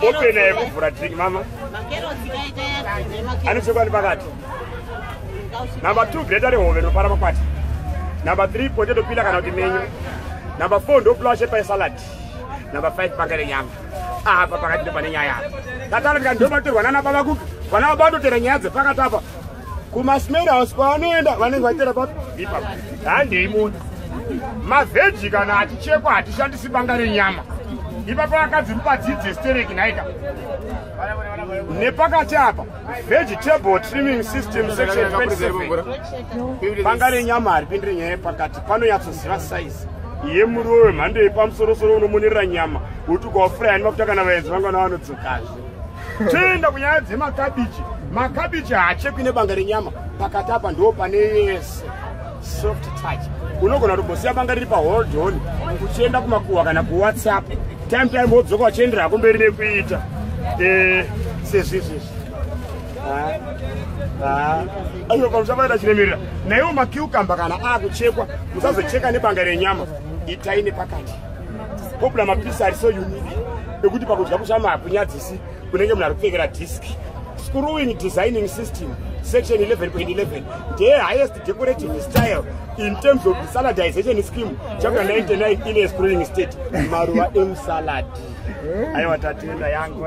Open air kuvhura drink mama. Anochekwa nepakati. Number 2 greater rehove rinopara makwati. Number 3 potato pila kana kuti menyu. Number 4 ndopulawa shepa yesalad. Number 5 panga renyama. Apa pakati ndopane nyaya apa. Tatala ndikandoma torwa nana baba kuka. Vana baba vatotera nyaya dzepakati apa. kumasmeri house kwaanoenda vanenge vaitera papi ipapo handei moni mavheji kana achichekwa hatishandisi banga renyama ipapo vakadzi mupadzidze stereki nhaika nepakati apa vegetable trimming system section 27 banga renyama haripindire nyaya yepakati panonyatsoziva saizi yemuriwo wemhando yepamusorosoro unomonerera nyama uti ukawafurayani makutakana vaenzi vangana vanodzokazve toenda kunyaya dzemakabichi makabichi haachekwi nebanga renyama pakati apa ndo pane yese soft touch unogona kutogosiya banga riri pahold on uchienda kumakuhwa kana kuwhatsapp time time wodzoka uchiendera hako mberi nekuita eh, sezvizvizvi aiwa pamusavaita chiremerera naiwo makiukamba kana akuchekwa musazocheka nebanga renyama itai nepakati Kobla mapisi ari so unique ekuti pakudya kushama hakunyadzisi kunenge munhu ari kupfekera disk screwing designing system section 11.11 ndeye highest decorative style in terms of saladization scheme chapter 99 in a screwing state maruva emusalad aiwa tatenda yangu